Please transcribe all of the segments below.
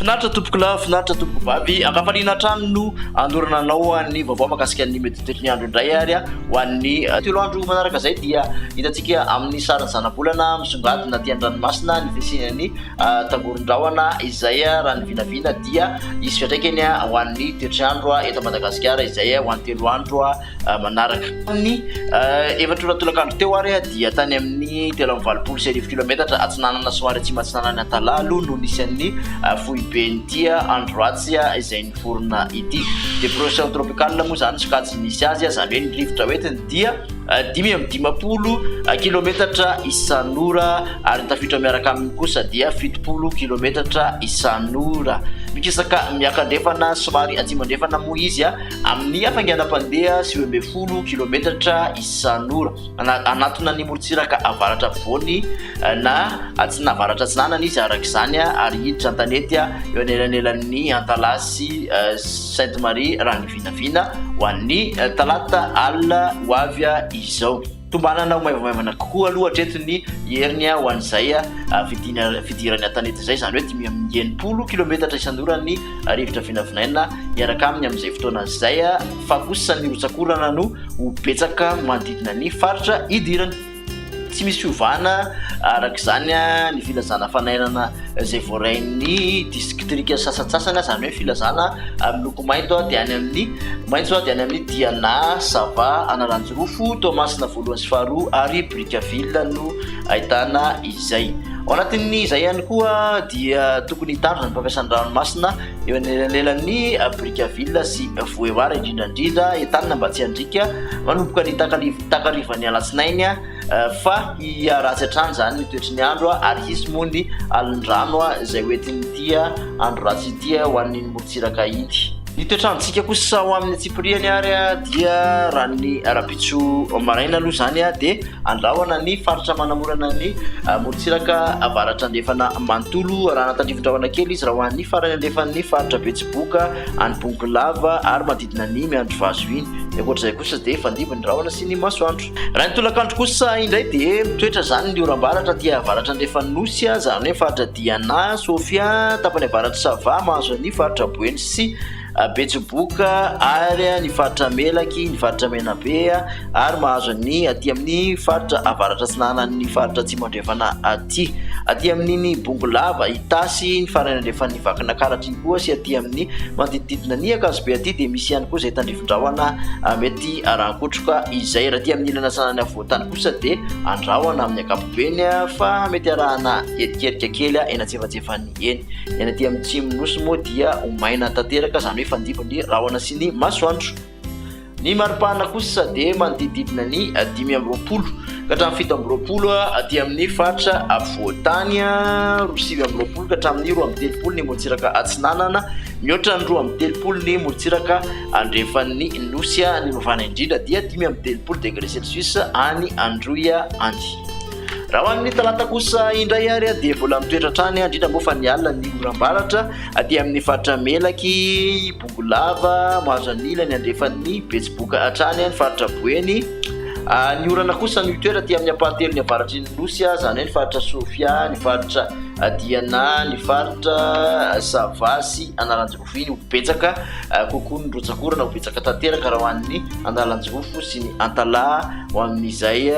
Finaritra tompoko lahy, finaritra tompoko vavy, ankafaliana hatrany no andorana anao an'ny vaovao makasika ny meditety ny andro indray ary ho an'ny eh, telo andro manaraka izay dia hitantsika amin'ny sarin'ny zanabolana misongadina aty an-dranomasina ny fisian'ny eh, tangoron-drahona izay eh, raha ny vinavina dia hisy fiantraikany ho an'ny toetr'andro eto Madagasikara izay ho an'ny telo andro manaraka. Ny efatra ora tolakandro teo ary dia tany amin'ny telo amby valopolo sy arivo kilometatra atsinanana somary atsimo atsinanan'ny Antalalu no nisy an'ny foiben'ity andro ratsy izay niforona ity. Dépression tropicale moa izany sokajy nisy azy, izany hoe ny rivotra hoentiny dia. dimy amby dimampolo kilometatra isan'ora ary ny tafiotra miaraka aminy kosa dia fitopolo kilometatra isan'ora. Mikisaka miakandrefana somary atsimo andrefana moa izy amin'ny hafainganam-pandeha sivy ambin'ny folo kilometatra isan'ora. Anatona ny morontsiraka avaratra afovoany na atsina avaratra atsinanana izy araka izany ary hiditra an-tanety eo anelanelan'ny Antalasy Sainte Marie Rangivy. Vinavina ho an'ny talata alina ho avy izao. Tombanana ho maivamaivana kokoa aloha hatreto ny heriny ho an'izay fidina fidiran'ny an-tanety izay, izany hoe dimy amby enimpolo kilaometatra isan'ora ny rivotra vinavinaina miaraka aminy amin'izay fotoana izay, fa kosa ny rotsak'orana no ho betsaka manodidina ny faritra idirany. Tsy misy fiovana araka izany ny filazana fanairana izay voarain'ny distrika sasantsasany, izany hoe filazana miloko mainto dia any amin'ny maitso dia any amin'ny Diana, Sava, Analanjirofo, Toamasina voalohany sy faharoa ary Brickaville no ahitana izay. Ao anatin'izay ihany koa dia tokony hitandrina ny fampiasana ny ranomasina eo anelanelan'ny Brickaville sy Vohémar indrindra indrindra Entanina Ambatsiandriaka manomboka ny takalivo takarivan'ny alatsinainy fa hiha ratsy hatrany izany ny toetry ny andro ary hisy moa ny alin-drano izay ho entin'ity andro ratsy ity ho an'ny morontsiraka ity. Ny toetr'androntsika kosa ao amin'ny antsipiriany ary dia raha ny arabitso maraina aloha izany dia andrahona ny faritra manamorana ny morontsiraka avaratra andrefana manontolo raha natandrivindrahona kely izy raha ho an'ny farany andrefan'ny faritra betsiboka any bongolava ary na ny miandry vazo iny. Ny ankoatra izay kosa dia fandimby ny rahona sy ny masoandro. Raha ny tolakandro kosa indray dia mitoetra izany ny oram-baratra aty avaratra andrefan'ny Nosy, izany hoe faritra Diana, Sofia, tapany avaratry Sava, mahazo ny faritra Boeny sy Betsiboka ary ny faritra Melaky, ny faritra Menabe ary mahazo ny aty amin'ny faritra avaratra atsinanan'ny faritra Atsimo andrefana aty. Aty amin'iny Bongolava, Itasy, ny farany andrefan'ny Vakinakaratra iny. Koa sy aty amin'ny manodidididina an'i Ankazobe aty dia misy ihany koa izay tandrifin-drahona mety arahan-kotroka izay. Raha aty amin'ny ilany atsinanan'ny afovoan-tany kosa dia andrahona amin'ny ankapobeny fa mety arahana erikerika kely eny antsefatsefany eny. Ny any aty amin'ny Tsimon'ny Nosy moa dia ho maina tanteraka, izany hoe fandimby ny rahona sy ny masoandro. Ny maripana kosa dia manodidididina ny dimy amby roapolo ka hatramin'ny fito amby roapolo aty amin'ny faritra afovoan-tany, roa sivy amby roapolo ka hatramin'ny roa amby telopolo ny morontsiraka atsinanana, mihoatra ny roa amby telopolo ny morontsiraka andrefan'ny nosy, ny mavana indrindra dia dimy amby telopolo degré celsius any Androy any. Raha ho an'ny talata kosa indray ary dia mbola mitoetra hatrany indrindra moa fa ny alina ny oram-baratra aty amin'ny faritra melaky Ho lava, mahazo an'ila ny andrefan'ny betsiboka hatrany ny faritra Boeny. Ny orana kosa no hitoetra aty amin'ny ampahatelony avaratry ny nosy, izany hoe ny faritra Sofia, ny faritra Diana, ny faritra Sava sy Analanjirofo iny ho betsaka kokoa ny rotsakorana, ho betsaka tanteraka raha ho an'ny Analanjirofo sy ny Antalaha ho amin'izay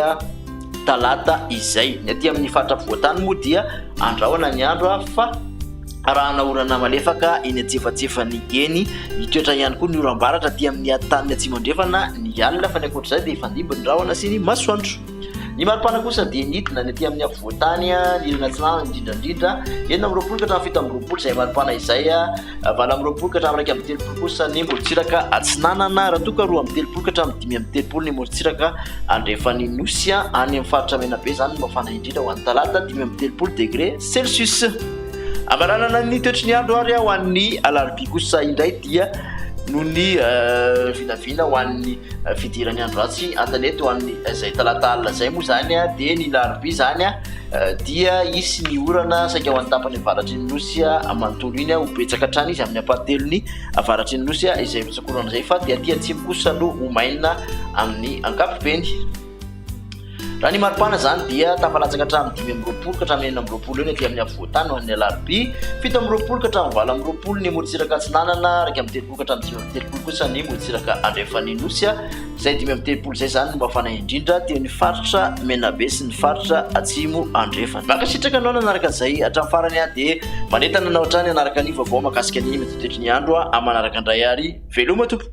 talata izay. Ny aty amin'ny faritra afovoan-tany moa dia andrahona ny andro fa. arahana orana malefaka eny antsefatsefan'ny geny. Mitoetra ihany koa ny oram-baratra aty amin'ny taniny atsimo-andrefana ny alina fa ny ankoatra izay dia hifandimby ny rahona sy ny masoandro. Ny maripana kosa dia nidina ny aty amin'ny afovoan-tany ny ilany atsinanana indrindra indrindra enina amby roapolo ka hatramin'ny fito amby roapolo izay maripana izay valo amby roapolo ka hatramin'ny iraika amby telopolo kosa ny morontsiraka atsinanana raha toa ka roa amby telopolo ka hatramin'ny dimy amby telopolo ny morontsiraka andrefan'ny nosy any amin'ny faritra Menabe izany no mafana indrindra ho an'ny talata dimy amby telopolo degré Celsius. Hamaranana ny toetry ny andro ary ho an'ny alarobia kosa indray dia noho ny vinavina ho an'ny fidiran'ny andro ratsy an-tanety ho an'ny izay talata alina izay moa izany dia ny larobia izany dia hisy ny orana saika ho an'ny tapany avaratry ny nosy manontolo iny ho betsaka hatrany izy amin'ny ampahatelony avaratry ny nosy izay misakorana izay fa dia aty atsimo kosa no ho maina amin'ny ankapobeny. Raha ny maripana izany dia tafalatsaka hatramin'ny dimy amby roapolo ka hatramin'ny enina amby roapolo eo ny aty amin'ny afovoan-tany ho an'ny alarobia, fito amby roapolo ka hatramin'ny valo amby roapolo ny morontsiraka atsinanana, iraika amby telopolo ka hatramin'ny dimy amby telopolo kosa ny morontsiraka andrefan'ny Nosy, izay dimy amby telopolo izay izany no mafana indrindra teo amin'ny faritra Menabe sy ny faritra Atsimo Andrefana. Mankasitraka anao nanaraka izay hatramin'ny farany aho dia manentana anao hatrany hanaraka ny vaovao mahakasika ny mety ho toetry ny andro aho amin'ny manaraka indray ary veloma tompoko.